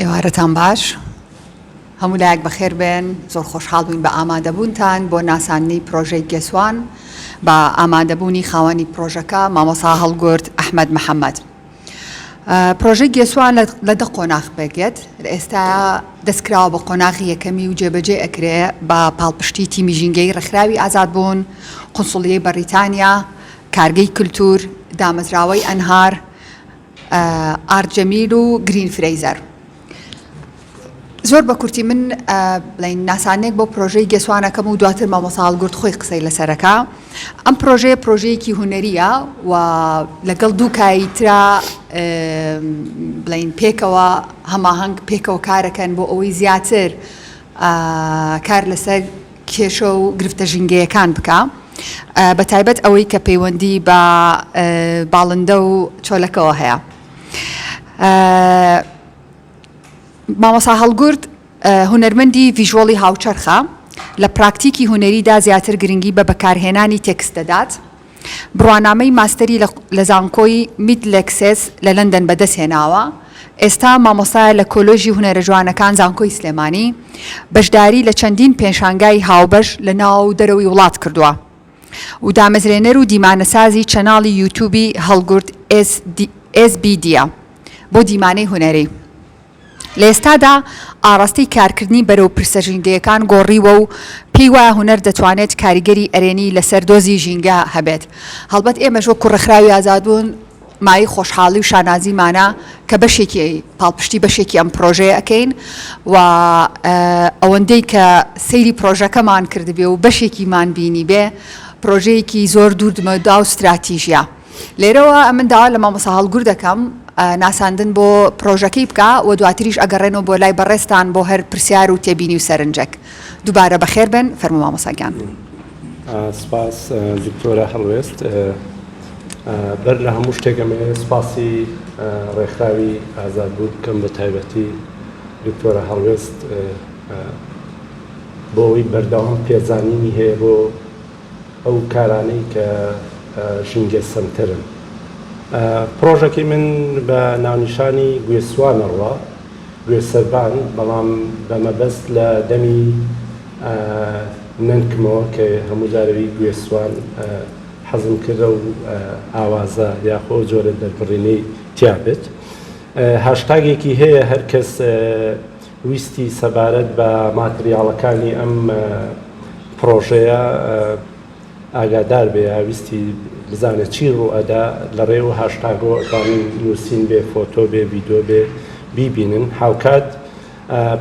ئێوارەتان باش هەموو لایەک بەخێر بێن زۆر خۆشحاڵ بووین بە ئامادەبوونتان بۆ ناساننی پرۆژەی گێسوان بە ئامادەبوونی خاوەنی پرۆژەکە مامۆسا هەڵگورد ئەحمد محەممەد. پرۆژەی گێسوا لە دە قۆناغ پێکدێت لە ئێستایا دەستکراوە بە قۆناغی یەکەمی و جێبەجێ ئەکرێ بە پاڵپشتی تیمی ژینگەی ڕێکخراوی ئازادبوون، قونسڵیەی بەڕیتانیا، کارگەی کولتوور، دامەزراوەی ئەنهار، ئارت جەمیل و گرین فرەیزەر. زۆر بە کورتی من بڵین ناسانێک بۆ پرۆژەی گێسوانەکەم و دواتر مامۆسا هەڵگورد خۆی قسەی لەسەرەکە ئەم پرۆژەیە پرۆژەیەکی هوەریە و لەگەڵ دوو کایترا بڵین پێکەوە هەماهنگ پێکەوە کارەکەن بۆ ئەوەی زیاتر کار لەسەر کێشە و گرفتە ژینگەیەکان بکە. بە تایبەت ئەوەی کە پەیوەندی بە باڵندە و چۆلەکەەوە هەیە. مامۆسا هەڵگورد هونەرمەندی ڤیژۆڵی هاوچەرخە لە پراکتیکی هونەریدا زیاتر گرنگی بە بەکارهێنانی تێکست دەدات بڕوانامەی ماستەری لە زانکۆی میت لێکسێس لە لەندەن بەدەست هێناوە ئێستا مامۆستایە لە کۆلۆژی هونەرە جوانەکان زانکۆی سلێمانی بەشداری لە چەندین پێشانگای هاوبەش لە ناو دەرەوەی وڵات کردووە و دامەزرێنەر و دیمانەسازی چەناڵی یوتوبی هەڵگورد ئێس بیدیا بۆ دیمانەی هونەری، لە ئێستادا ئاڕاستەی کارکردنی بەرەو پرسە ژینگەیەکان گۆڕیوە و پێی وایە هونەر دەتوانێت کاریگەری ئەرێنی لەسەر دۆزی ژینگە هەبێت، هەڵبەت ئێمەش وەکو ڕێکخراوی ئازادبوون، مایەی خۆشحاڵی و شانازیمانە کە بەشێکی پاڵپشتی بەشێکی ئەم پرۆژەیە ئەکەین و ئەوەندەی کە سەیری پرۆژەکەمان کردبێ و بەشێکیمان بینی بێ پرۆژەیەکی زۆر دووردمەدا و ستراتیژە لێرەوە ئەمن داوا لە مامۆسا هەڵگر دەکەم ناساندن بۆ پرۆژەکەی بکە و دواتریش ئەگەڕێنەوە بۆ لای بەڕێستان بۆ هەر پرسیار و تێبینی و سەرنجێک دووبارە بەخێر بن فەرمو مامۆساگیان. سپاس دکتۆرە هەڵوێست. بەر لە هەموو شتێک ئەمەوێت سپاسی ڕێکخراوی ئازادبوو بکەم بە تایبەتی دکتۆرە هەڵوێست بۆ ئەوەی بەردەوام پێزانینی هەیە بۆ ئەو کارانەی کە ژینگە سەنتەرن. پڕۆژەکەی من بە ناونیشانی گوێسوانەڕوا، گوێ سەربان بەڵام بە مەبەست لە دەمی نەنکمەوە کە هەموو جارەوی گوێ سوان حەزم کرد ئەو ئاوازە یاخۆ ئەو جۆرە دەربڕینەی تیا بێت هاشتاگێکی هەیە هەر کەس ویستی سەبارەت بە ماتریاڵەکانی ئەم پڕۆژەیە ئاگادار بێ یا ویستی بزانێ چی ڕوو ئەدا لە ڕێ و هاشتاگۆ ئەتوانن نووسین بێ فۆتۆ بێ ڤیدۆ بێ بیبینن هاوکات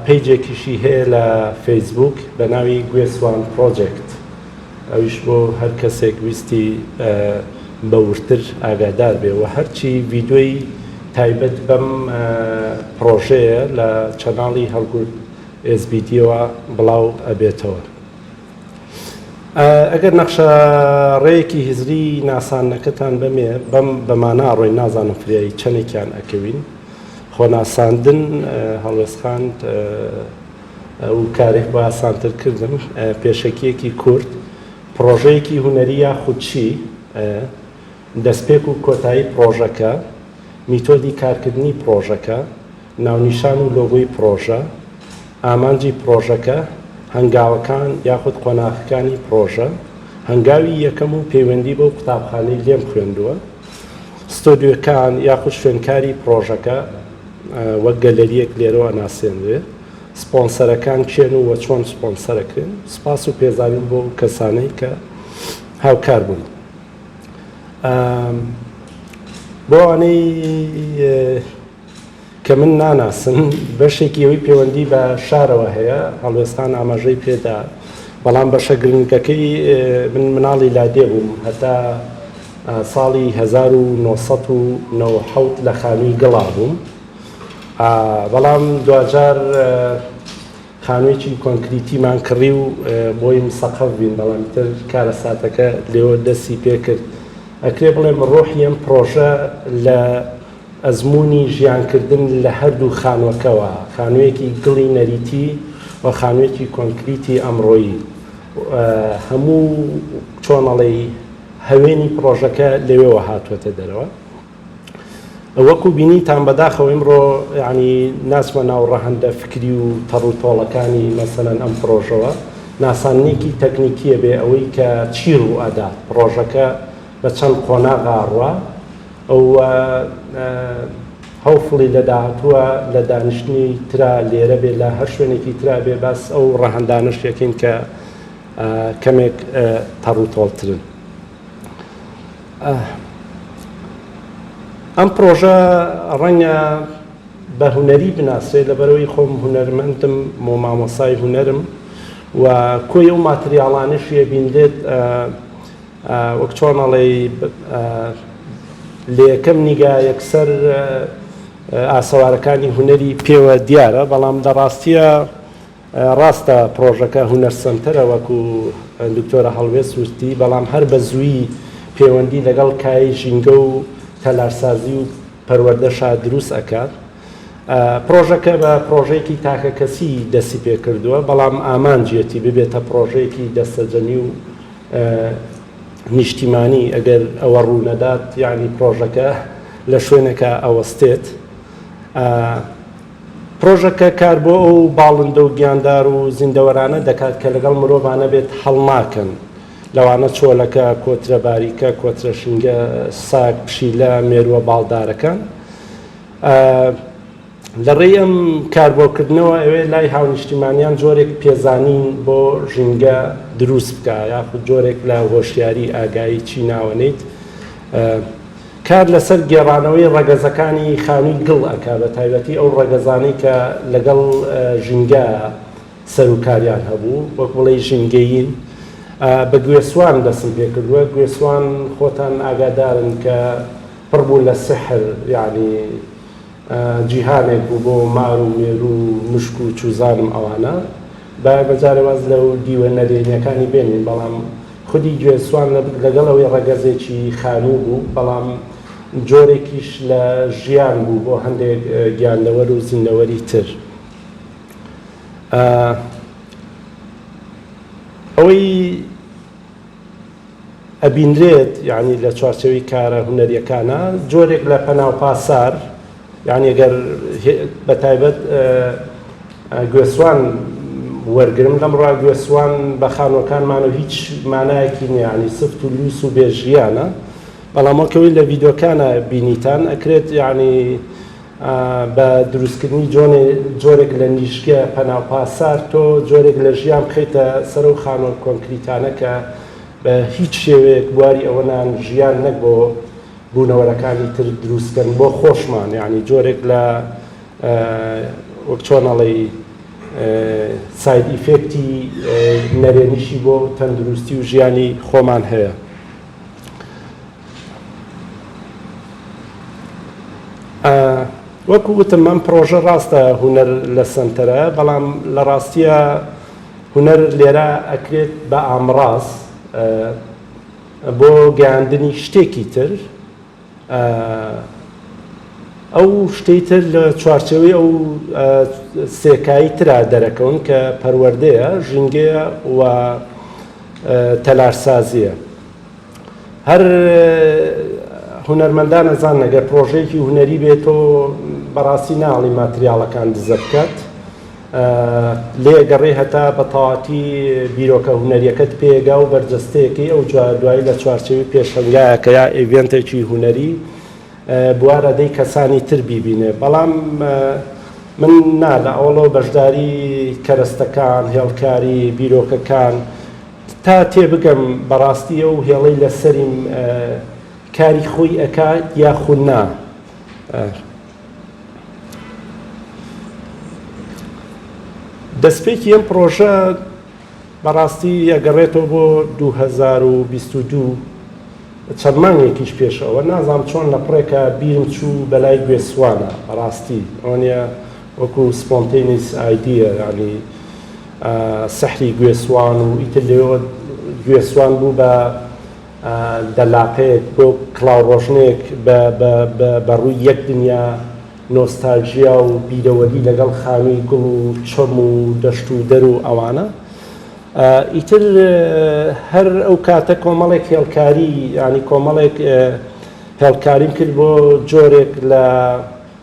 پەیجێکیشی هەیە لە فەیسبووک بە ناوی گوێسوان پڕۆجێکت ئەویش بۆ هەر کەسێک ویستی بە وردتر ئاگادار بێ و هەرچی ڤیدۆی تایبەت بەم پڕۆژەیە لە چەناڵی هەڵگورد ئێس بی دیەوە بڵاو ئەبێتەوە. ئەگەر نەخشە ڕێیەکی هزری ناسانەکەتان بەمێ بەم بەمانە ئەڕۆین نازانم فریایی چەندێکیان ئەکەوین خۆناساندن هەڵوێستخاند و کارێک بە ئاسانترکردن پێشەکیەکی کورد پرۆژەیەکی هوەری یاخودچی دەستپێک و کۆتایی پرۆژەکە میتۆدی کارکردنی پرۆژەکە ناونیشان و لۆگۆی پڕۆژە، ئامانجی پڕۆژەکە، هەنگاوەکان یاخود قۆناغەکانی پڕۆژە، هەنگاوی یەکەم و پەیوەندی بەو قوتابخانەی لێم خوێندووە، ستۆدیۆکان یاخود شوێنکاری پڕۆژەکە وەک گەلەرییەک لێرەوە ئەناسێنرێ، سپۆنسەرەکان کێن و وە چۆن سپۆنسەرەکرێن، سوپاس و پێزانین بۆ ئەو کەسانەی کە هاوکار بوون. بۆ ئەوانەی. کە من ناناسم، بەشێکی ئەوی پێوەندی بە شارەوە هەیە، هەڵوێستان ئاماژەی پێدا، بەڵام بەشە گرنگەکەی من مناڵی لادێ بووم، هەتا ساڵی هەزار و نۆ سەد و نەوەد و حەوت لە خانووی گڵا بووم، بەڵام دواجار، خانوویەکی کۆنکریتیمان کڕی و بۆیم سەقەف بین بەڵام ئیتر کارەساتەکە لێوە دەستی پێکرد. ئەکرێ بڵێم ڕۆحی ئەم پڕۆژە لە ئەزموونی ژیانکردن لە هەردوو خانووەکەوە، خانوویەکی گڵی نەریتی و خانوویەکی کۆنکریتی ئەمڕۆیی و هەموو چۆنەڵێی هەوێنی پڕۆژەکە لەوێوە هاتووەتە دەرەوە. وەکو بینیتان بەداخەوە ئیمڕۆ یعنی ناچمە ناو ڕەهەندە فکری و تەڕ و تۆڵەکانی مەسەلەن ئەم پڕۆژەوە ناساننێکی تەکنیکیە بێ ئەوەی کە چی ڕوو ئەدا پڕۆژەکە بە چەند قۆناغا ڕوا ئەو هەوفڵی لە داهاتووە لە دانیشتنی ترا لێرە بێ لە هەر شوێنێکی ترا بێ باس ئەو ڕەهندانەش یەکەین کە کەمێک تەڕوتۆڵترن. ئەم پرۆژە ڕەنگە بە هونەری بناسرێت لەبەرەوەی خۆم هونەرمەندم بۆ مامۆسای هونەرم و کۆی ئەو ماتریاڵانش یەبینرێت وەک چۆنەڵی لە یەکەم نیگا یەکسەر ئاسەوارەکانی هونەری پێوە دیارە بەڵام دەڕاستە ڕاستە پڕۆژەکە هونەر سەنتەرە وەکو دکتۆرە هەڵوێست ووستی بەڵام هەر بە زووی پێوەندی لەگەڵ کایەی ژینگە و تەلارسازی و پەروەردەشا دروست ئەکات پڕۆژەکە بە پڕۆژەیەکی تاکە کەسی دەسی پێکردووە بەڵام ئامانجیەتی ببێتە پڕۆژەیەکی دەستەجەمی و نیشتیمانی ئەگەر ئەوە ڕوونەدات یعنی پڕۆژەکە لە شوێنەکە ئەوەستێت پرۆژەکە کار بۆ ئەو باڵندە و گیاندار و زیندەوەرانە دەکات کە لەگەڵ مرۆڤا نەبێت هەڵناکەن، لەوانە چۆلەکە، کۆترە باریکە، کۆترە شینگە، سەگ، پشیلە، مێرووە باڵدارەکان. لە ڕێی ئەم کاربۆکردنەوە ئەوێ لای هاونیشتیمانیان جۆرێک پێزانین بۆ ژینگە دروست بکا یاخود جۆرێک لە هۆشیاری، ئاگایی چی ناوەنیت، کار لەسەر گێڕانەوەی ڕەگەزەکانی خانووی گڵ ئەکا بە تایبەتی ئەو ڕەگەزانەی کە لەگەڵ ژینگە سەروکاریان هەبوو وەک بڵێی ژینگەیین بە گوێسوان دەسم پێ کردووە گوێسوان خۆتان ئاگادارن کە پڕ بوو لە سحر یعنی جیهانێک بوو بۆ مار و مێروو و مشک و چوزانم ئەوانە. بایە بەجارێ واز لە و دیوە نەرێنیەکانی بێنین بەڵام خودی گوێز سوان لەگەڵ ئەوەی ڕەگەزێکی خانوو بوو بەڵام جۆرێکیش لە ژیان بوو بۆ هەندێک گیاندەوەر و زیندەوەری تر. ئەوەی. ئەبینرێت یانی لە چوارچێوەی کارە هونەریەکانە جۆرێک لە پەناو پاسار یانی گەر بەتایبەت گوێسوان وەرگرم لەم ڕا گوێسوان بە خانوەکانمان و هیچ مانایەکی نیانی سفت و لوس و بێژیانە بەڵامەکەوەی لە ڤیدۆکانە بینیتان ئەکرێت یانی بە دروستکردنی جۆرێک لە نیشگە پەناو پاسار تۆ جۆرێک لە ژیان بخەیتە سەر ئەو خانوە کۆنکریتانە کە بە هیچ شێوەیەک بواری ئەوە نان ژیان نەک بۆ بوونەوەرەکانی تر دروست کەن بۆ خۆشمان یعنی جۆرێک لە وەک چۆن ئەڵێی ساید ئیفێکتی نەرێنیشی بۆ تەندروستی و ژیانی خۆمان هەیە. وەکو وتم ئەم پڕۆژە ڕاستە هونەر لە سەنتەرە بەڵام لە ڕاستیە هونەر لێرە ئەکرێت بە ئامڕاز بۆ گەیاندنی شتێکی تر ئەو شتەی تر لە چوارچەوەی ئەو سێکایی ترا دەرەکەون کە پەروەردەیە ژینگەیە و تەلارسازیە. هەر هونەرمەندان ئەزان ئەگەر پرۆژەیەکی هونەری بێت تۆ بەڕاستی ناڵی ماتریاڵەکان دزە بکات لێ گەڕێ هەتا بە تەواتی بیرۆکە هونەریەکەت پێگا و بەرجەستەیەکەی ئەو دوایی لە چوارچەوی پێشەنگایەکە یا ئێڤێنتێکی هونەری بوارەدەی کەسانی تر بیبینێ بەڵام من نا لە ئەوڵەوە بەشداری کەرەستەکان هێڵکاری بیرۆکەکان تا تێبگەم بەڕاستی ئەو هێڵەی لە سەریم کاری خۆی ئەکا یاخو نا. دەسپێکی ئەم پڕۆژە بەڕاستی ئەگەڕێتەوە بۆ دوو هەزار و بیست و دوو چەند مانگێکیش پێش ئەوە نازانم چۆن لە پڕێکە بیرم چوو بەلای گوێسوانە بەڕاستی ئەوەنە وەکو سپۆنتەینیس ئایدییە یانی سحری گوێ سوان و ئیتر لەوێوە گوێ سوان بوو بە دەلاقەیەک بۆ کڵاو ڕۆژنێک بە ڕووی یەک دنیا نۆستالژیا و بیرەوەری لەگەڵ خانووی گوڵ و چۆم و دەشت و دەر و ئەوانە ئیتر هەر ئەو کاتە کۆمەڵێک هێڵکاری ینی کۆمەڵێک هێڵکاریم کرد بۆ جۆرێک لە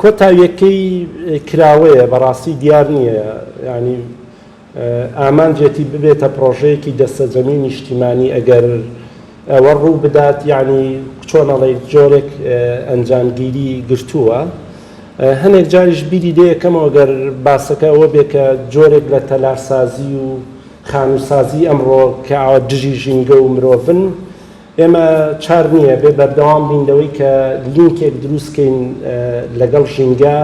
کۆتاویەکەی کراوەیە بەڕاستی دیار نییە ینی ئامانجێتی ببێتە پڕۆژەیەکی دەستەجەمی نیشتیمانی ئەگەر ئەوە ڕوو بدات یعنی چۆنەڵی جۆرێک ئەنجامگیری گرتووە هەنێک جاریش بیری دەیەکەمەوە گەر باسەکە ئەوە بێ کە جۆرێک لە تەلارسازی و خانووسازی ئەمڕۆ کە ئاوە دژی ژینگە و مرۆڤن ئێمە چار نییە بێ بەردەوام بین لەوەی کە لینکێک دروست کەین لەگەڵ ژینگە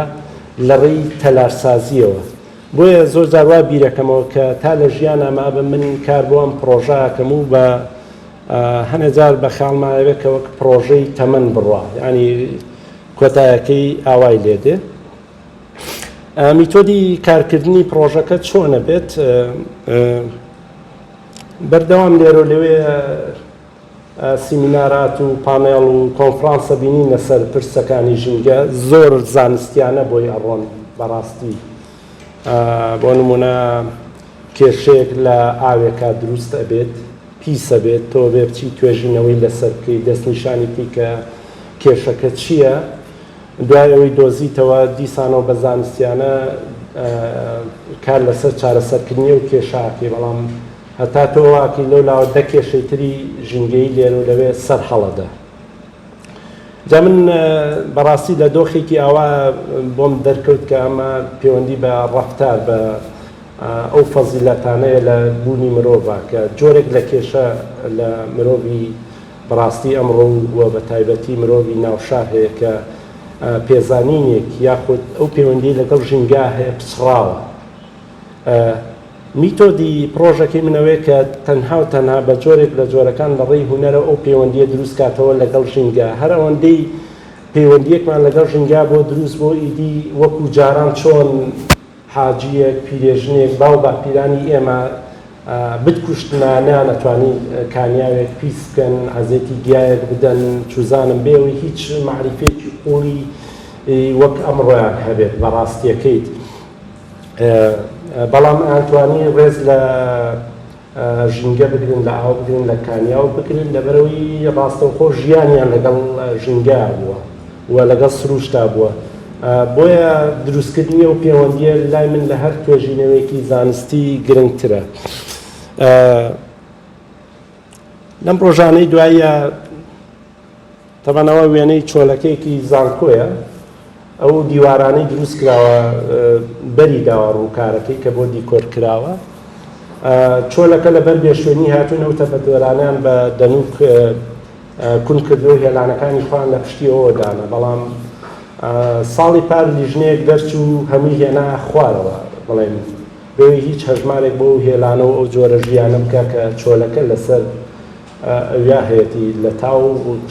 لە ڕێی تەلارسازییەوە. بۆیە زۆر جار وا بیرەکەمەوە کە تا لە ژیانا مابم من کار بۆ ئەم پڕۆژە ئەکەم و بە هەنێ جار بە خەیاڵما ئەوێ کە وەک پڕۆژەی تەمەن بڕوا یانی کۆتایەکەی ئاوای لێ دێ. میتۆدی کارکردنی پڕۆژەکە چۆنە بێت؟ بەردەوام لێرەو لەوێ سیمینارات و پانێڵ و کۆنفرانسە بینین لەسەر پرسەکانی ژینگە زۆر زانستیانە بۆی ئەڕۆن بەڕاستی بۆ نمونە کێشەیەک لە ئاوێکا دروست ئەبێت پیسە بێت تۆ بێ بچی توێژینەوەی لەسەر بکەی دەستنیشانی بکەی کە کێشەکە چییە دوای ئەوەی دۆزیتەوە، دیسانەوە بە زانستیانە کار لەسەر چارەسەرکردنی ئەو کێشە ئەکەی، بەڵام هەتا تۆ ئەوە ئەکەی لەولاوە دە کێشەی تری ژینگەیی لێرە و لەوێ سەر هەڵەدە. جا من بەڕاستی لە دۆخێکی ئاوا بۆم دەرکەوت کە ئەمە پێوەندی بە ڕەفتار بە ئەو فەزیلەتانەیە لە بوونی مرۆڤە کە جۆرێک لە کێشە لە مرۆڤی بەڕاستی ئەمڕۆ و بە تایبەتی مرۆڤی ناو شار هەیە کە پێزانینێک یاخود ئەو پێوەندی لەگەڵ ژینگا هەیە پچڕاوە. میتۆدی پڕۆژەکەی من ئەوەیە کە تەنها و تەنها بە جۆرێک لە جۆرەکان لە ڕێی هونەرەوە ئەو پێوەندییە دروست کاتەوە لەگەڵ ژینگا. هەر ئەوەندەی پێوەندییەکمان لەگەڵ ژینگا بۆ دروست بۆ ئیدی وەکو جاران چۆن، حاجیەک، پیرێژنێک، باو باپیرانی ئێمە بتکوشتنە نەیانەتوانی کانیاوێک پیس بکەن، عەزێتی گیایەک بدەن، چوزانم بێ ئەوەی هیچ مەعریفەیەکی قوڵی وەک ئەمڕۆیان هەبێت بە ڕاستیەکەیت بەڵام ئەیانتوانی ڕێز لە ژینگە بگرن لە ئاو بگرن لە کانیاو بگرن لەبەرئەوەی ڕاستەوخۆ ژیانیان لەگەڵ ژینگە بووە و لەگەڵ سروشتا بووە بۆیە دروستکردنی ئەو پێوەندیە لای من لە هەر توێژینەوەیەکی زانستی گرنگترە لەم ڕۆژانەی دوایە تەبعەن ئەوە وێنەی چۆلەکەیەکی زانکۆیە ئەو دیوارانەی دروست کراوە بەری داوە ڕووکارەکەی کە بۆ دیکۆر کراوە چۆلەکە لەبەر بێشوێنی هاتوون ئەو تەپەدۆرانیان بە دەنوک کون کردو هێلانەکانی خۆیان لە پشتیەوە دانا بەڵام ساڵی پار لیژنەیەک دەرچوو هەمووی هێنا خوارەوە بڵێن بۆی هیچ هەژمارێک بۆ هێلانە و ئەو جۆرە ژیانە بکە کە چۆلەکە لەسەر ئەویا هەیەتی لە تاو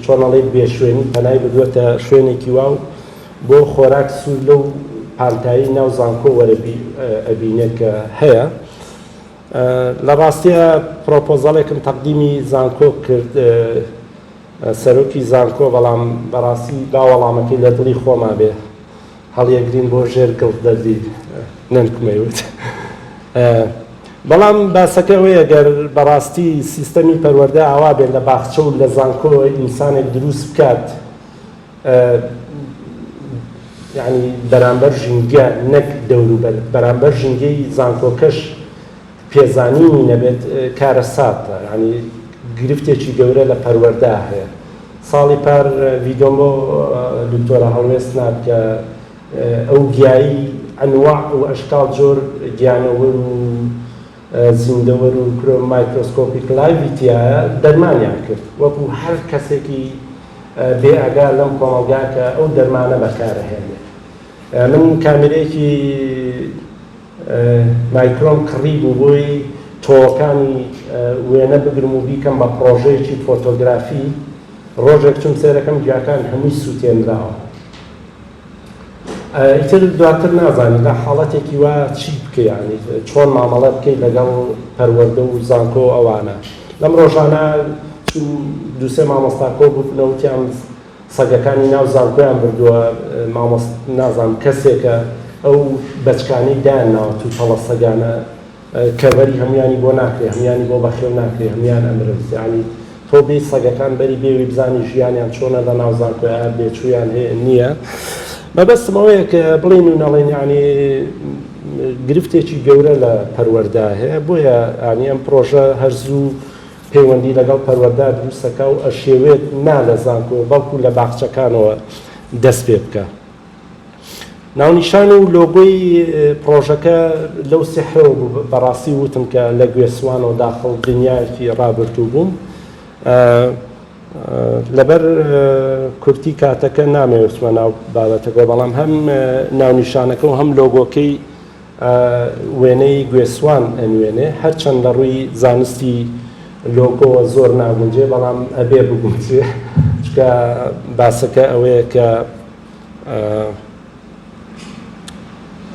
چۆن ئەڵێی بێ شوێنی پەنای بردووەتە شوێنێکی وا و بۆ خۆراک سوور لەو پانتایی ناو زانکۆ وەرە ئەبینێت کە هەیە. لە ڕاستیە پرۆپۆزەڵێکم تەقدیمی زانکۆ کرد سەرۆکی زانکۆ، بەڵام بەڕاستی با وەڵامەکەی لە دڵی خۆما بێ. هەڵیەگرین بۆ ژێر گڵ دەردی نەنکم ئەیوت بەڵام باسەکە ئەوەیە گەر بەڕاستی سیستەمی پەروەردە ئاوا بێت لە باخچە و لە زانکۆ ئینسانێک دروست بکات یعنی بەرامبەر ژینگە نەک دەوروبەر بەرامبەر ژینگەی زانکۆکەش پێزانینی نەبێت کارەساتە یانی گرفتێکی گەورە لە پەروەردە هەیە ساڵی پار ڤیدۆم بۆ دکتۆرە هەڵوێست نارد کە ئەو گیایی ئەنواع و ئەشکال جۆر گیانەوەر و زیندەوەر و کرۆ مایکرۆسکۆپی کلایوی تایە دەرمانیان کرد وەکو هەر کەسێکی بێ ئەگا لەم کۆمەڵگا کە ئەو دەرمانە بەکارەهێنێت من کامێرەیەکی مایکرۆن کڕی بوو بۆی تۆوەکانی وێنە بگرم و بیکەم بە پڕۆژەیەکی فۆتۆگرافی، ڕۆژێک چوم سەیرەکەم گیاکان هەمووی سوتێنراوە. ئیتر دواتر نازانی لە حاڵەتێکی وا چی بکەی یانی چۆن مامەڵە بکەی لەگەڵ پەروەردە و زانکۆ ئەوانە. لەم ڕۆژانە چوم دوو سێ مامۆستا کۆ بوونەوە وتیان، سەگەکانی ناو زانکۆیان بردوە مامۆست نازانم کەسێکە ئەو بەچکانەی دایان ناوە توو تەڵە سەگانە کەڤەری هەمویانی بۆ ناکرێ هەمویانی بۆ بەخێو ناکرێ هەمویان ئەمرن یانی تۆ بێی سەگەکان بەری بێوی بزانی ژیانیان چۆنە لە ناو زانکۆ ئایا بێچویان هەیە نییە مەبەستم ئەوەیە کە بڵین و نەڵێن یانی گرفتێکی گەورە لە پەروەردە هەیە بۆیە ئانی ئەم پرۆژە هەر زوو پەیوەندی لەگەڵ پەروەردە دروستەکە و ئەشێوێت نا لە زانکۆ بەڵکو لە باخچەکانەوە دەست پێ بکا. ناونیشان و لۆگۆی پڕۆژەکە لەو سحرەوە بوو بەڕاستی وتم کە لە گوێ سوانەوە داخڵ دنیایەکی ڕابردوو بووم. لەبەر کورتی کاتەکە نامەوێت بچمە ناو بابەتەکەوە بەڵام هەم ناونیشانەکە و هەم لۆگۆکەی وێنەی گوێسوان ئەنوێنێ هەرچەند لە ڕووی زانستی لۆگۆوە زۆر ناگونجێ بەڵام ئەبێ بگونجێ چکە باسەکە ئەوەیە کە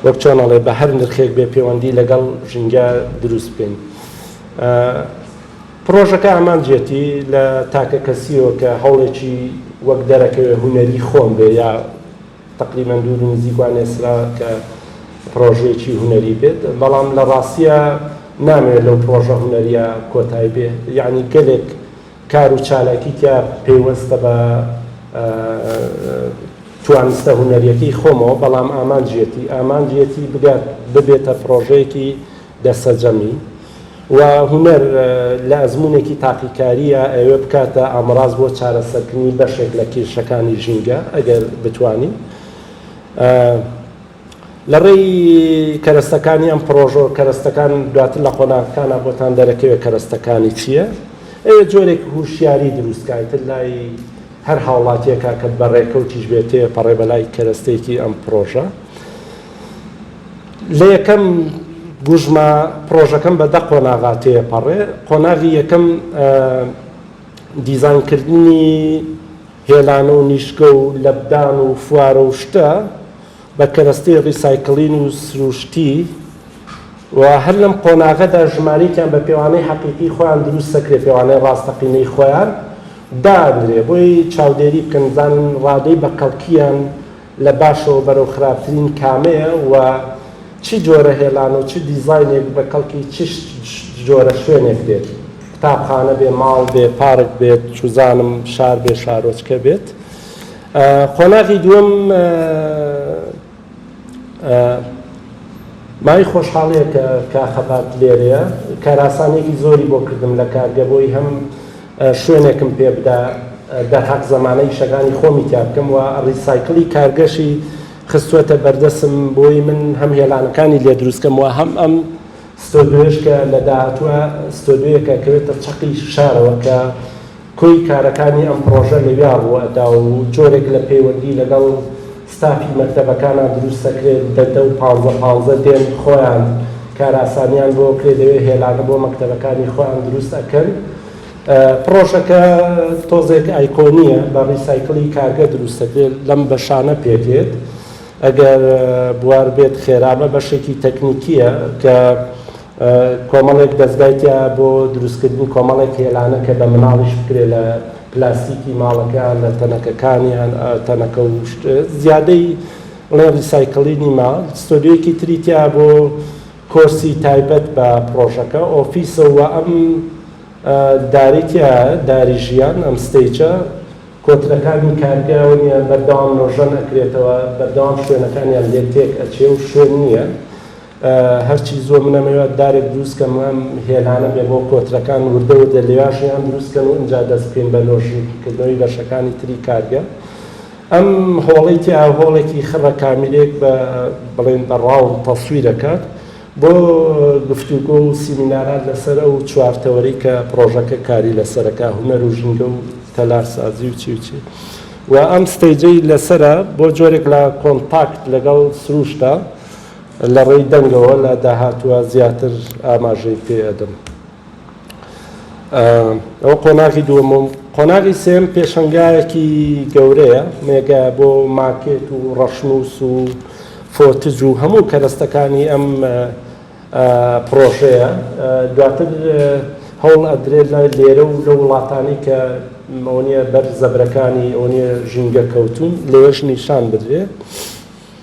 وەک چۆن ئەڵێ بە هەر نرخێک بێ پێوەندی لەگەڵ ژینگە دروست بکەین پرۆژەکە ئامانجێتی لە تاکە کەسیەوە کە هەوڵێکی وەک دەرەکەوێ هوەری خۆم بێ یا تەقریبەن دوور و نزیک وا نێسرا کە پڕۆژەیەکی هونەری بێت، بەڵام لە ڕاستییا نامەوێت لەو پڕۆژە هونەرییە کۆتای بێ، یەعنی گەلێک کار و چالاکی تیا پەیوەستە بە توانستە هونەرییەکەی خۆمەوە، بەڵام ئامانجیەتی ئامانجیەتی بگات ببێتە پڕۆژەیەکی. دەسەجەمی، و هونەر لە ئەزموونێکی تاقیکارییە ئەوێ بکاتە ئامڕاز بۆ چارەسەرکردنی بەشێک لە کیرشەکانی ژینگە ئەگەر بتوانین لە ڕێی کەرەستەکانی ئەم پڕۆژە و کەرەستەکان دواتر لە قۆناغەکانە بۆتان دەرەکەوێت کەرەستەکانی چییە ئەوێ جۆرێک هوشیاری دروستکە تر لای هەر هاوڵاتیەکە کە بەڕێکەوتیش بێتێ پەڕێ بەلای کەرەستێکی ئەم پڕۆژە. لە یەکەم گوژمە پڕۆژەکەم بە دە قۆناغا تێپەڕێ قۆناغی یەکەم دیزانکردنی هێلانە و نیشگە و لەبدان و فوارە و شتە بە کەرەستەی ڕیسایکلین و سروشتی و هەر لەم قۆناغەدا ژمارێکیان بە پێوانەی حەقیقی خۆیان دروست سەکرێ پێوانەی ڕاستەقینەی خۆیان دانرێ بۆی چاودێری بکەن زان ڕادەی بە کەڵکیان لە باشەوە بەرەو خراپترین کامەیە و چ جۆرە هێلان و چ دیزاینێک بە کەڵکی چ جۆرە شوێنێک دێت، قوتابخانە بێ، ماڵ بێ، پارک بێت، چوزانم شار بێ، شارۆچکە بێت. قۆناغی دووەم مای خۆشحاڵیە کە کاخەباد لێرەیە، کارئاسانیەکی زۆری بۆ کردم لە کارگە بۆی هەم شوێنێکم پێ بدا دەرهەق زەمانە ئیشەکانی خۆمی تیا بکەم و ڕیسایکڵی کارگەشی خستووەتە بەردەسم بۆی من هەم هێلانەکانی لێ دروست کەم و هەم ئەم ستۆدیۆیەش کە لە داهاتووە ستۆدیۆیەکە کەوێتە چەقی شارەوە کە کۆی کارەکانی ئەم پڕۆژە لەویا ڕووئەدا و جۆرێک لە پەیوەندی لەگەڵ ستافی مەکتەبەکانە دروست دەکرێت دە دە و پانزە پانزە دێن خۆیان کارئاسانیان بۆ کرێ دەوێ هێلانە بۆ مەکتەبەکانی خۆیان دروست ئەکەن پڕۆژەکە تۆزێک ئایکۆنیە بە ڕیسایکڵی کارگە دروست دەکرێت لەم بەشانە پێدێت ئەگەر بوار بێت خێرابە بەشێکی تەکنیکیە کە کۆمەڵێک دەزگای تیا بۆ دروستکردنی کۆمەڵێک هێلانە کە بە مناڵیش بکرێ لە پلاستیکی ماڵەکەیان لە تەنەکەکانیان تەنەکە و شت زیادەی بڵێن ڕیسایکلینی ما ستۆدیۆیەکی تری تیا بۆ کۆرسی تایبەت بە پڕۆژەکە ئۆفیسە و ئەم داری تیا داری ژیان ئەم ستەیجە کۆترەکانی کارگەیانیان بەردەوام نۆژەن ئەکرێتەوە بەردەوام شوێنەکانیان لێ تێک ئەچێ و شوێن نییە هەرچی زۆر من ئەمەوێ دارێک دروست کەم و ئەم هێلانەم بێ بۆ کۆترەکان وردە وردە لێواشیان دروست کەن و ئینجا دەست بکەین بە لۆژیک کردنەوەی بەشەکانی تری کارگە ئەم هۆڵەی تیا هۆڵێکی خڕە کامیرێک بە بڵێن بە ڕاو تەسویرەکات بۆ گفتوگۆ و سیمینارات لەسەر ئەو چوارتەوەری کە پرۆژەکە کاری لەسەرەکە هومەر و ژینگە و تەلارسازی و چی و چی و ئەم ستەیجەی لەسەرە بۆ جۆرێک لە کۆنتاکت لەگەڵ سروشتە لە ڕێی دەنگەوە لە داهاتووە زیاتر ئاماژەی پێ ئەدەم. ئەوە قۆناغی دووەم و قۆناغی سێم پێشەنگایەکی گەورەیە مێگە بۆ ماکێت و ڕەشنووس و فۆتج و هەموو کەرەستەکانی ئەم پڕۆژەیە دواتر هەوڵ ئەدرێت لە لێرە و لە وڵاتانی کە ئەوەنیە بەر زەبرەکانی ئەوەنیە ژینگە کەوتون لەوێش نیشان بدرێت.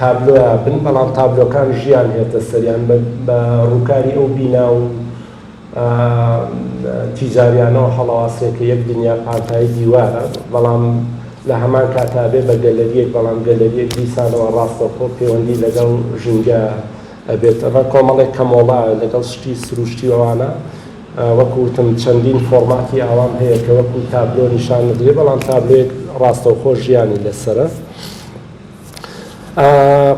تابلۆیا بن بەڵام تابلۆکان ژیان هێتە سەریان بە ڕووکاری ئەو بینا و تیجاریانەوە هەڵەواسێ کە یەک دنیا پانتایی دیوارە بەڵام لە هەمان کاتا بێ بە گەلەریەک بەڵام گەلەریەک دیسانەوە ڕاستەوخۆ پێوەندی لەگەڵ ژینگە ئەبێت ئەمە کۆمەڵێک کەمۆڵا لەگەڵ شتی سروشتی ئەوانە وەکو وتم چەندین فۆرماتی ئاوام هەیە کە وەکو تابلۆ نیشان بدرێ بەڵام تابلۆیەک ڕاستەوخۆ ژیانی لەسرە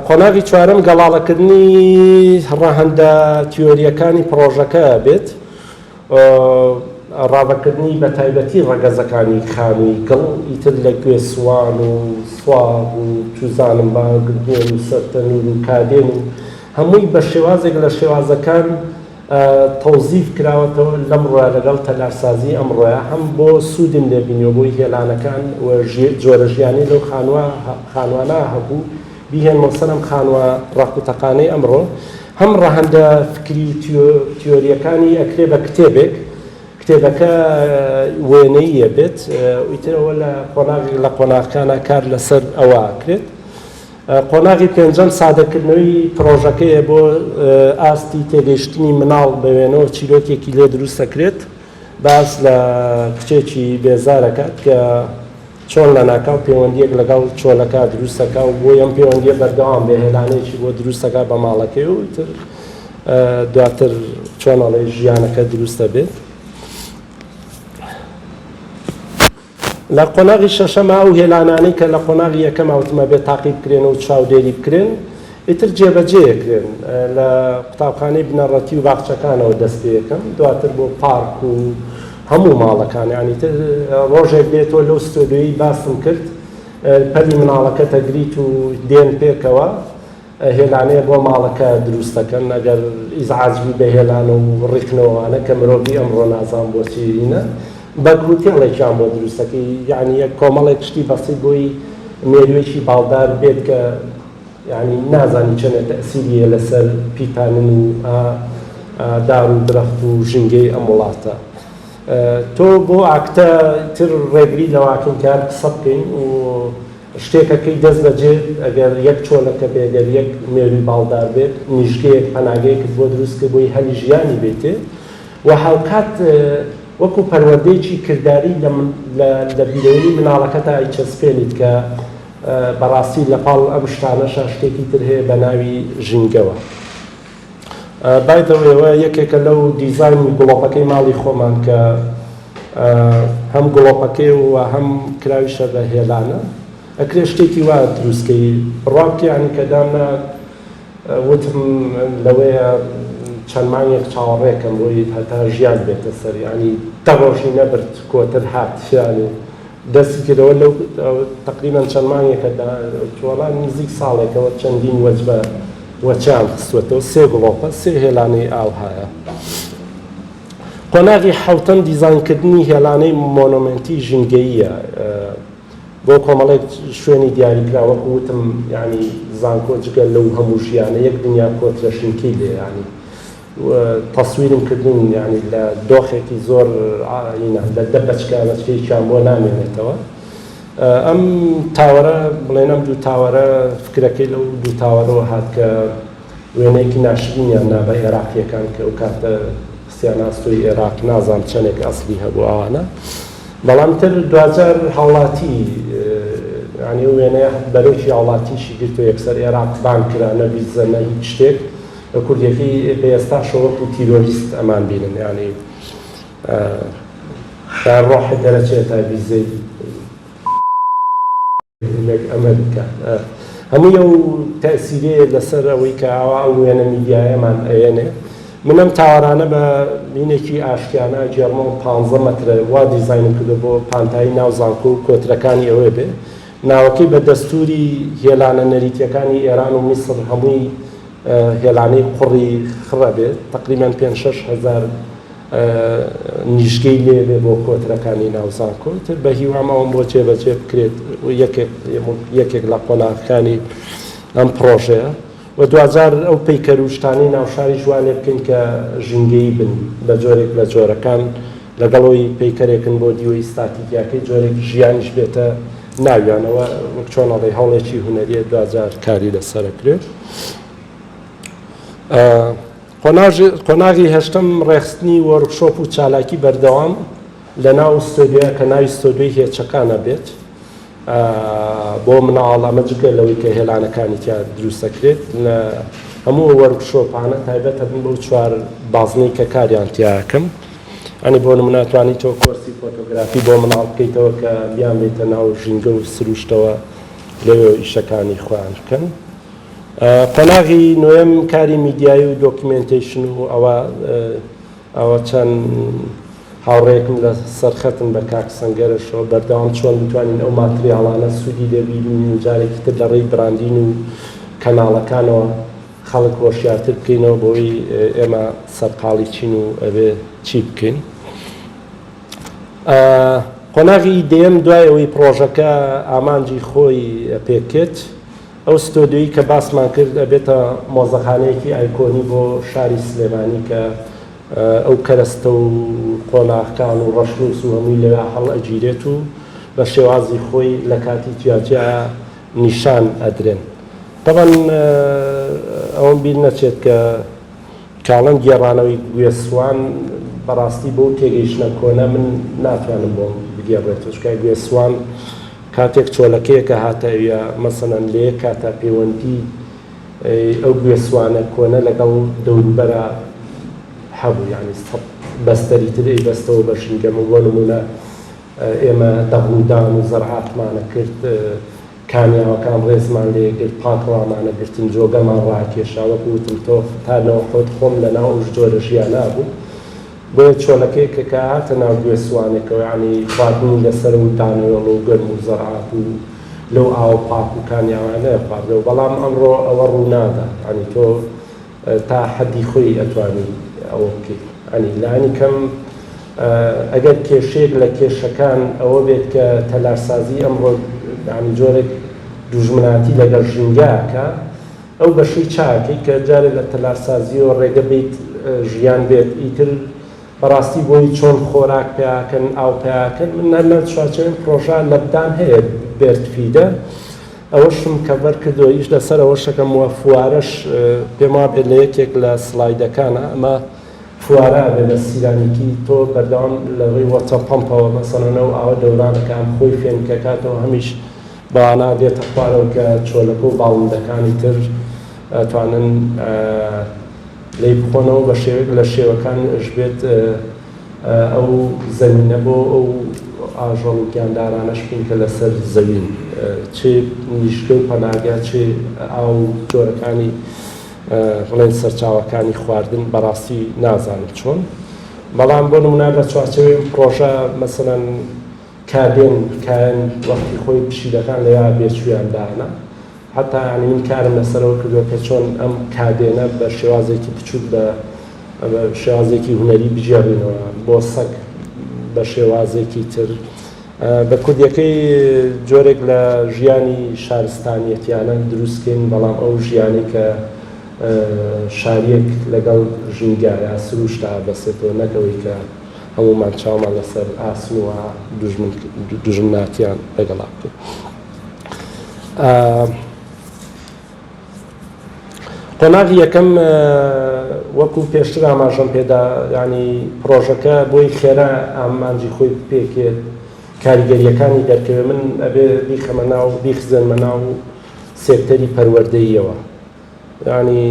قۆناغی چوارەم گەڵاڵەکردنی ڕەهەندە تیۆرییەکانی پڕۆژەکە بێت، ڕاڤەکردنی بە تایبەتی ڕەگەزەکانی خانووی گڵ، ئیتر لە گوێ سوان و سواغ و چوزانم باگبوون و سەرتەنور و کادێن و هەمووی بە شێوازێک لە شێوازەکان، تەوزیف کراوەتەوە، لەمڕۆیە لەگەڵ تەلارسازیی ئەمڕۆیە هەم بۆ سوودم لێ بینیوە بۆی هێلانەکان و جۆرە ژیانەی لەو خانووە خانووانە هەبوو بیهێنمەوە سەر ئەم خانووە ڕەق و تەقانەی ئەمڕۆ هەم ڕەهەندە فکری و تیۆرییەکانی ئەکرێ بە کتێبێک کتێبەکە وێنەییە بێت و ئیتر ئەوە لە قۆناغێک لە قۆناغەکانا کار لەسەر ئەوە ئەکرێت. قۆناغی پێنجەم سادەکردنەوەی پڕۆژەکەیە بۆ ئاستی تێگەیشتنی مناڵ بە وێنەوە چیرۆکێکی لێ دروست دەکرێت باس لە کچێکی بێزار دەکات کە چۆن لەناکاو پەیوەندییەک لەگەڵ چۆلەکە دروست دەکا و بۆی ئەم پەیوەندییە بەردەوام بێ هێلانەیەکی بۆ دروست دەکا بە ماڵەکەی و تر دواتر چۆن ئەڵێ ژیانەکە دروست دەبێت لە قۆناغی شەشەما ئەو هێلانانەی کە لە قۆناغی یەکەما وتم ئەبێ تاقی بکرێن و چاودێری بکرێن ئیتر جێبەجێ ئەکرێن لە قوتابخانەی بنەڕەتی و باخچەکانەوە دەست پێ ئەکەن دواتر بۆ پارک و هەموو ماڵەکان یانی تر ڕۆژێک بێت تۆ لەو ستۆدیۆیی باسم کرد پەلی مناڵەکەت ئەگریت و دێن پێکەوە هێلانەیە بۆ ماڵەکە دروست دەکەن ئەگەر ئیزعاج بی بە هێلان و ڕیکنەوە وانە کە مرۆڤی ئەمڕۆ نازان بۆ چی هینە بەگ هوتێڵێکیان بۆ دروست دەکەی یعنی یەک کۆمەڵێک شتی بەسیت بۆی مێروێکی باڵدار بێت کە یعنی نازانی چەنێ تەسیریە لەسەر پیتانن و دار و درەخت و ژینگەی ئەم وڵاتە تۆ بۆ ئاکتە تر ڕێگری لەواکەین کار قسە بکەین و شتێکە کەی دەست دەجێت ئەگەر یەک چۆلەکە بێ گەر یەک مێروی باڵدار بێت نیشگەیەک پەناگەیەکت بۆ دروست کرد بۆی هەلی ژیانی بێتێ و هاوکات وەکو پەروەردەیەکی کرداری لە لە لە بیرەوەری مناڵەکەتا ئەیچەسپێنیت کە بەڕاستی لە پاڵ ئەم شتانەشا شتێکی تر هەیە بە ناوی ژینگەوە. بای دە وەی ئەوە یەکێکە لەو دیزاینی گڵۆپەکەی ماڵی خۆمان کە هەم گڵۆپەکەی و هەم کراویشە بە هێلانە ئەکرێ شتێکی وا دروستکەی بڕابکەیانی کە دامنا وتم لەوەیە چەند مانگێک چاوەڕێکەم بۆی هەتا ژیان بێتە سەر ینی تەڕۆژی نەبرد کۆتر هات شیانی دەستی کردەوە لەو تەقریبەن چەند مانگێکە دا تۆلا نزیک ساڵێکەوە چەندین وەجبە وەچیان خستووەتەوە سێ گڵۆپە سێ هێلانەی ئاو هایە قۆناغی حەوتەم دیزاینکردنی هێلانەی مۆنۆمێنتی ژینگەییە بۆ کۆمەڵێک شوێنی دیاریکرا وەکو وتم یعنی زانکۆ جگە لەو هەموو ژیانە یەک دنیا کۆترە شینکەی لێیانی تەسویرم کردن یانی لە دۆخێکی زۆر ئینە لە دە بەچکە بەچکەیەکیان بۆ نامێنێتەوە ئەم تاوەرە بڵێن ئەم دوو تاوەرە فکرەکەی لەو دوو تاوەرەوە هات کە وێنەیەکی ناشرینیان نا بە ئێراقیەکان کە ئەو کاتە خستیان ئاستۆی ئێراق نازان چەندێک ئەسلی هەبوو ئەوانە بەڵام تر دوجار هاوڵاتی ینی وێنەیە بەرۆکی هاوڵاتیشی گرتو یەکسەر ئێراق بان کرا نەبیزە نە هیچ شتێک بە کوردیەکەی بە ئێستاشەوە وەکو تیرۆریست ئەمان بینن یانی تا ڕۆحت دەرەچێ تا ڤیزەی لەک ئەمەریکا هەمووی ئەو تەسیرێ لەسەر ئەوەی کە ئاوا ئەو وێنە میدیایەمان ئەێنێ من ئەم تاوارانە بە مینێکی ئاشتیانە جێرمۆ پ مەترە وا دیزینم کردو بۆ پانتایی ناو زانکۆ و کۆترەکانی ئەوێ بێ ناوەکەی بە دەستوری هێلانە نەریتیەکانی ئێران و میسر هەمووی هێلانەی قوڕی خڕە بێت تەقریبەن پێنج شەش هەزار نیشگەی لێ بێ بۆ کۆترەکانی ناو زانکۆ تر بە هیوام ئەوم بۆ جێبەجێ بکرێت یەکێک لە قۆناغەکانی ئەم پڕۆژەیە و دوجار ئەو پەیکەروشتانی ناوشاری جوانێ بکەین کە ژینگەی بن بە جۆرێک لە جۆرەکان لەگەڵەوەی پەیکەرێکن بۆ دیوە ئیستاتیکیاکەی جۆرێک ژیانیش بێتە ناویانەوە وەک چۆنەڵی هەوڵێکی هونەریە دوجار کاری لەسەرەکرێت. قۆناغی هەشتەم ڕێخستنی وۆرکشۆپ و چالاکی بەردەوام لە ناو ستۆدیۆ کە ناوی ستۆدیۆی هێچەکانە بێت بۆ مناڵ ئەمە جگە لەوەی کە هێلانەکانی تیا دروستەکرێت لە هەموو وەرکشۆپانە تایبەتە بن بەو چوار بازنەی کە کاریان تیاکەم ئەنی بۆ مناتوانی تۆ کۆرسی فۆتۆگرافی بۆ مناڵ بکەیتەوە کە بیان بێتە ناو ژینگە و سروشتەوە لەوێ ئیشەکانی خۆیان بکەن. قۆناغی نۆیەم کاری میدیایی و دۆکیومێنتەیشن و ئەوە ئەوە چەند هاوڕێیەکم لە سەر خەتن بە کاک سەنگەرەشەوە بەردەوام چۆن بتوانین ئەو ماتریاڵانە سوودی لێ بیبینین و جارێکی تر لە ڕێی براندین و کەناڵەکانەوە خەڵک هۆشیارتر بکەینەوە بۆی ئێمە سەرقاڵی چین و ئەبێ چی بکەین. قۆناغی دەیەم دوای ئەوەی پڕۆژەکە ئامانجی خۆی پێکرد، ئەو ستۆدیۆی کە باسمان کرد ئەبێتە مۆزەخانەیەکی ئایکۆنی بۆ شاری سلێمانی کە ئەو کەرەستە و قۆناغکان و ڕەشنووس و هەمووی لەوێ هەڵئەگیرێت و بە شێوازی خۆی لە کاتی جیاجیا نیشان ئەدرێن. تەبعەن ئەوەم بیر نەچێت کە، کاڵن گێڕانەوەی گوێ سوان بەڕاستی بەو تێگەیشتنە کۆنە من ناتوانم بۆم بگێڕرێتەوە چونکە گوێ سوان کاتێک چۆلەکەیەکە هاتە ئەویا مەسەلەن لە یەک کاتا پەیوەندی ئەو گوێ سوانە کۆنە لەگەڵ دەوروبەرا هەبوو یانی بەستەری تر ئەی بەستەوە بە ژینگەمە بۆ نموونە ئێمە دەغڵودان و زەرعاتمانە کرد، کانیاوەکان ڕێزمان لێ گرت، پاکەوامانە گرتن، جۆگەمان ڕاکێشا، وەکو وتم تۆخ تا نەوحوت خۆم لە ناو ئەو جۆرە ژیانە بوو، بۆیە چۆلەکەی کە کە هاتە ناو گوێ سوانێکەوە یانی خواردنی لە سەرە و دانەوێڵە و گەرم و زەرعات و لەو ئاوە پاک و کانیاوانەیە خواردەوە، بەڵام ئەمڕۆ ئەوە ڕوونادا، یانی تۆ تا حەدی خۆی ئەتوانی ئەوە بکەی عنی لانی کەم ئەگەر کێشەیەک لە کێشەکان ئەوە بێت کە تەلارسازی ئەمڕۆ عنی جۆرێک دوژمناتی لەگەڵ ژینگە کە ئەو بەشەی چاکەی کە جارێ لە تەلارسازیەوە ڕێگە بیت ژیان بێت ئیتر بەڕاستی بۆی چۆن خۆراک پیاکەن ئاو پیاکەن من هەر لە چوارچێوەی پرۆژە لەبدان هەیە بێرتفیدە ئەوەشم کەڤەر کردوە ئیش لەسەر ئەوەشەکەم وە فوارەش پێم وابێت لە یەکێک لە سڵایدەکانا ئەمە فوارە ئەبێت لە سیرامیکی تۆ بەردەوام لە ڕێی وەتە پەمپەوە مەسەڵەن ئەو ئاوە دەوران ئەکا هەم خۆی فێنک ئەکاتەوە هەمیش بەوانە دێتە خوارەوە کە چۆلەکە و باڵندەکانی تر ئەتوانن لێی بخۆنەوە بە شێوەیەک لە شێوەکان ئەشبێت ئەو زەمینە بۆ ئەو ئاژەڵ و گیاندارانەش بین کە لەسەر زەوین، چ نیشتە و پەناگە، چ ئاو و جۆرەکانی بڵێن سەرچاوەکانی خواردن، بەڕاستی نازانم چۆن، بەڵام بۆ نموونە لە چوارچێوەی ئەم پڕۆژە مەسەلەن، کابێن کایەن وەختی خۆی پشیلەکان لە یار بێ چوویان دانە هەتا یانی من کارم لەسەرەوە کردووە کە چۆن ئەم کابێنە بە شێوازێکی بچووک بە شێوازێکی هونەری بگێڕینەوە بۆ سەگ بە شێوازێکی تر بە کوردیەکەی جۆرێک لە ژیانی شارستانیەتیانە دروستکەین بەڵام ئەو ژیانی کە شاریەک لەگەڵ ژینگایە سروشتا بەسێتەوە نەکەوەی کە هەموومان چاومان لەسەر ئاسن و دوژمناتیان لەگەڵا بکەین. قۆناغی یەکەم وەکو پێشتر ئاماژەم پێدا یانی پڕۆژەکە بۆی خێرا ئامانجی خۆی بپێکێت کاریگەریەکانی دەرکەوێت من ئەبێ بیخەمە ناو بیخزێنمە ناو سێکتەری پەروەردەییەوە. یانی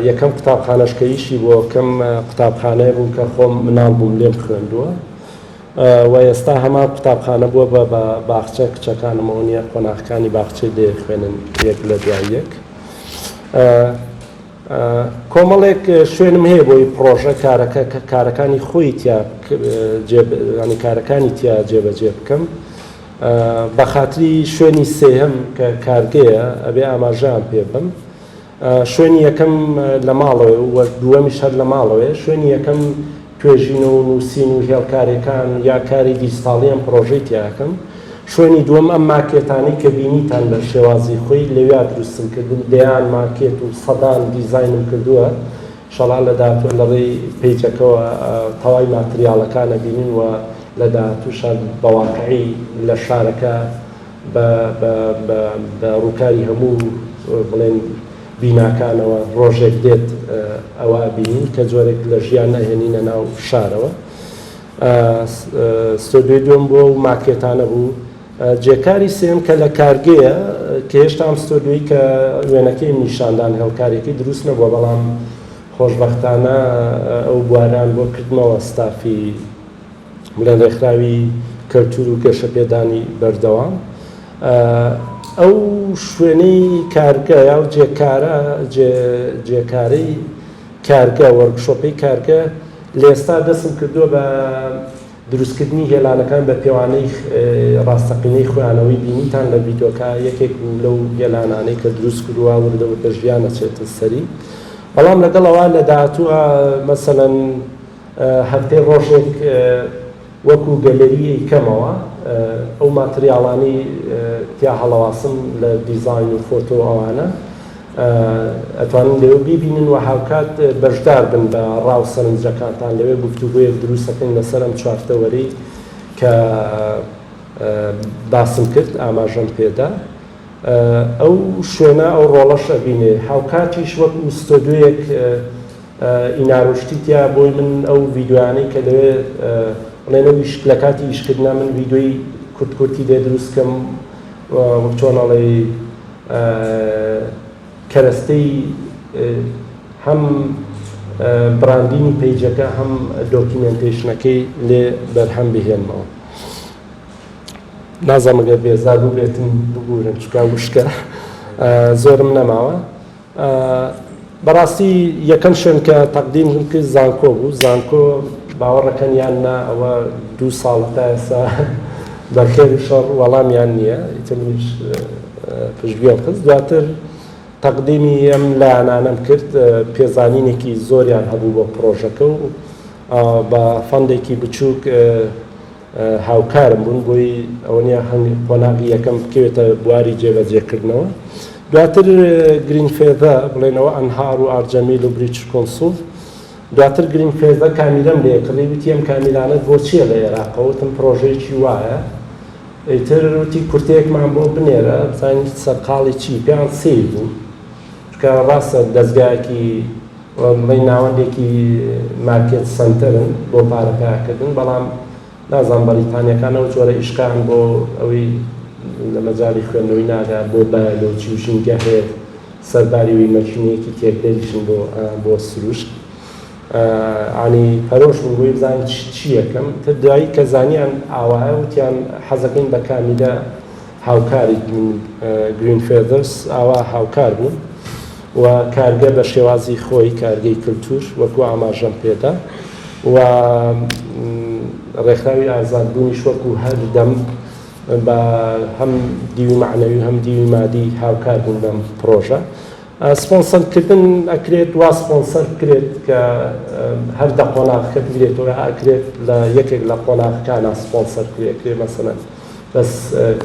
یەکەم قوتابخانەش کە ئیشی بۆ کەم قوتابخانەیە بوو کە خۆم مناڵ بووم لێم خوێندووە و ئێستا هەمان قوتابخانە بووە بە بە باخچە کچەکانمەوە نییە قۆناخەکانی باخچەی لێ خوێنن یەک لە دوای یەک کۆمەڵێک شوێنم هەیە بۆی پرۆژە کارەکە کارەکانی خۆی تیا کارەکانی تیا جێبەجێ بکەم بە خاتری شوێنی سێیەم کە کارگەیە ئەبێ ئاماژەیان پێ بم شوێنی یەکەم لە ماڵەوەێ و دووەمیش هەر لە ماڵەوەێ شوێنی یەکەم توێژینەوە و نووسین و هێڵکارێکان یا کاری دیجتاڵیان پرۆژەی تیاکەم شوێنی دووەم ئەم ماکێتانەی کە بینیتان لە شێوازی خۆی لەویا دروستم کردن دەیان ماکێت و سەدان دیزینم کردووە شەڕان لە داهاتووە لە ڕێی پەیجەکەوە تەوای ماتریاڵەکان ئەبینن و لە داهاتووشان بە واقعی لە شارەکە بە بە بە بە ڕووکاری هەموو بڵێن بیناکانەوە ڕۆژێک دێت ئەوە ئەبینین کە جۆرێک لە ژیان ئەهێنینە ناو شارەوە. ئە ستۆدیۆی دووەم بۆ ئەو ماکێتانە بوو. جێکاری سێیەم کە لە کارگەیە کە هێشتا ئەم ستۆدیۆی کە وێنەکەیم نیشان دان هێڵکارێکەی دروست نەبووە بەڵام خۆشبەختانە ئەو بوارەیان بۆ کردمەوە ستافی بڵێن ڕێکخراوی کەلتور و گەشەپێدانی بەردەوام ئەو شوێنەی کارگە یا و جێکارە جێکارەی کارگە وەرگشۆپەی کارگە لێستا دەستم کردووە بە دروستکردنی هێلانەکان بە پێوانەی ڕاستەقینەی خوێانەوەی بینیتان لە ڤیدۆکە یەکێک بوو لەو هێلانانەی کە دروست کرووە وردە وردە ژیان ئەچێتە سەری بەڵام لەگەڵ ئەوە لە داهاتووە مەسەلەن هەفتەی ڕۆژێک وەکو گەلەری ئەیکەمەوە ئەو ماتریاڵانەی تیا هەڵەواسم لە دیزاین و فۆتۆ ئەوانە ئەتوانن لەوێ بیبینن و هاوکات بەشدار بن بە ڕا و سەرنجەکانتان لەوێ گفتوگۆیەک دروست ئەکەین لەسەر ئەم چوارتەوەرەی کە باسم کرد ئاماژەم پێدا ئەو شوێنە ئەو ڕۆڵەش ئەبینێ هاوکاتیش وەکو ستۆدیۆیەک ئینارۆ شتی تیا بۆی من ئەو ڤیدۆیانەی کە دەوێ بڵێن ئەو ئیش لە کاتی ئیش کردنا من ڤیدۆی کورت کورتی لێ دروست کەم وەک چۆن ئەڵێی کەرەستەی هەم براندینی پەیجەکە هەم دۆکیمێنتەیشنەکەی لێ بەرهەم بهێنمەوە نازەمەگە بێزار بوو بێتم ببوورن چکا وشکە زۆرم نەماوە بەڕاستی یەکەم شوێن کە تەقدیم م کرد زانکۆ بوو زانکۆ باوەڕەکەن یان نا ئەوە دوو ساڵە تا ئێستا بە خێر و شەڕ وەڵامیان نییە ئیتر منیش پشتگوێم خست دواتر تەقدیمی ئەم لایەنانەم کرد پێزانینێکی زۆریان هەبوو بۆ پڕۆژەکە و بە فەندێکی بچووک هاوکارم بوون بۆی ئەوەنیا هەنگ قۆناغی یەکەم بکەوێتە بواری جێبەجێکردنەوە دواتر گرین فێدە بڵێنەوە ئەنهار و ئارجەمیل و بریچ کۆنسوڵ دواتر گرین فێدە کامیرەم لێ کڕی وتی ئەم کامیرانت بۆ چییە لە عێراقەوە وتم پرۆژەیەکی وایە ئیتر وتی کورتەیەکمان بۆ بنێرە بزانین سەرقاڵی چی پێیان سیر بوو چکە ڕاستە دەستگایەکی بڵێین ناوەندێکی مارکێت سەنتەرن بۆ پارە پەیاکردن، بەڵام نازانم بەڕیتانیەکان ئەو جۆرە ئیشقەیان بۆ ئەوی لە مەجالی خوێندنەوەی ناگا بۆ بایەلۆجی و ژینگە هەیەت سەرباری وی مەکینەیەکی تێکدەریشن بۆ بۆ سروشت انی پەرۆش بووم بۆی بزانم چ چیەکەم تر دوایی کە زانیان ئاوایە وتیان حەزەکەین بە کامیلە هاوکاریت من گرین فێدەرس ئاوا هاوکار بووم. و کارگە بە شێوازی خۆی کارگەی کلتور وەکو ئاماژەم پێدا و ڕێکخراوی ئازاد بوونیش وەکو هەر دەم بە هەم دیوی معنەوی هەم دیوی مادی هاوکار بوون بەم پرۆژە سپۆنسەر کردن ئەکرێت وا سپۆنسەر بکرێت کە هەر دە قۆناغەکە بگرێتەوە ئەکرێت لە یەکێک لە قۆناغەکانە سپۆنسەر کرێکرێ مەسەن بەس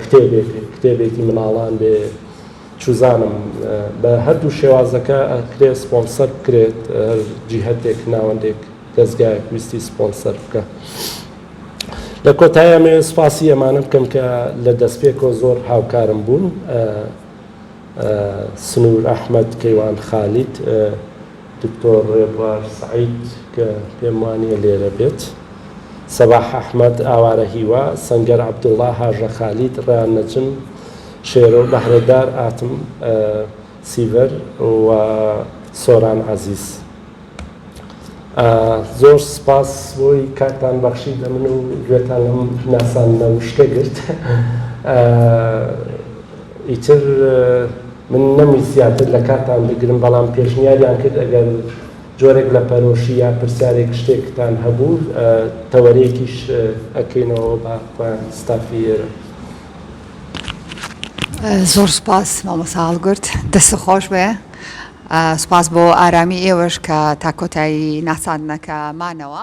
کتێبێک کتێبێکی مناڵان بێ چوزانم بە هەردوو شێوازەکە ئەکرێ سپۆنسەر بکرێت هەر جیهەتێک ناوەندێک دەزگایەک ویستی سپۆنسەر بکە لە کۆتایە مێ سپاسی ئەمانە بکەم کە لە دەستپێکەوە زۆر هاوکارم بوون سنوور ئەحمد کەیوان خالید دکتۆر ڕێبوار سەعید کە پێم وانییە لێرە بێت، سەباح ئەحمەد، ئاوارە هیوا، سەنگەر عەبدوڵا، هاژە خالید، ڕەیان نەجم، شێرۆ، بەهرەدار ئاتم، سیڤەر و سۆران عەزیز. زۆر سپاس بۆی کاتتان بەخشی بە من و گوێتان لەم ناساندنە وشکە گرت. ئیتر من نەمویست زیاتر لە کاتتان بگرم، بەڵام پێشنیاریان کرد ئەگەر جۆرێک لە پەرۆشی یا پرسیارێک شتێکتان هەبوو تەوەرەیەکیش ئەکەینەوە بە خۆیان ستافی ئێرە. زۆر سوپاس مامۆستا هەڵگورد، دەستت خۆش بێ. سوپاس بۆ ئارامی ئێوەش کە تا کۆتایی ناساندنەکە مانەوە.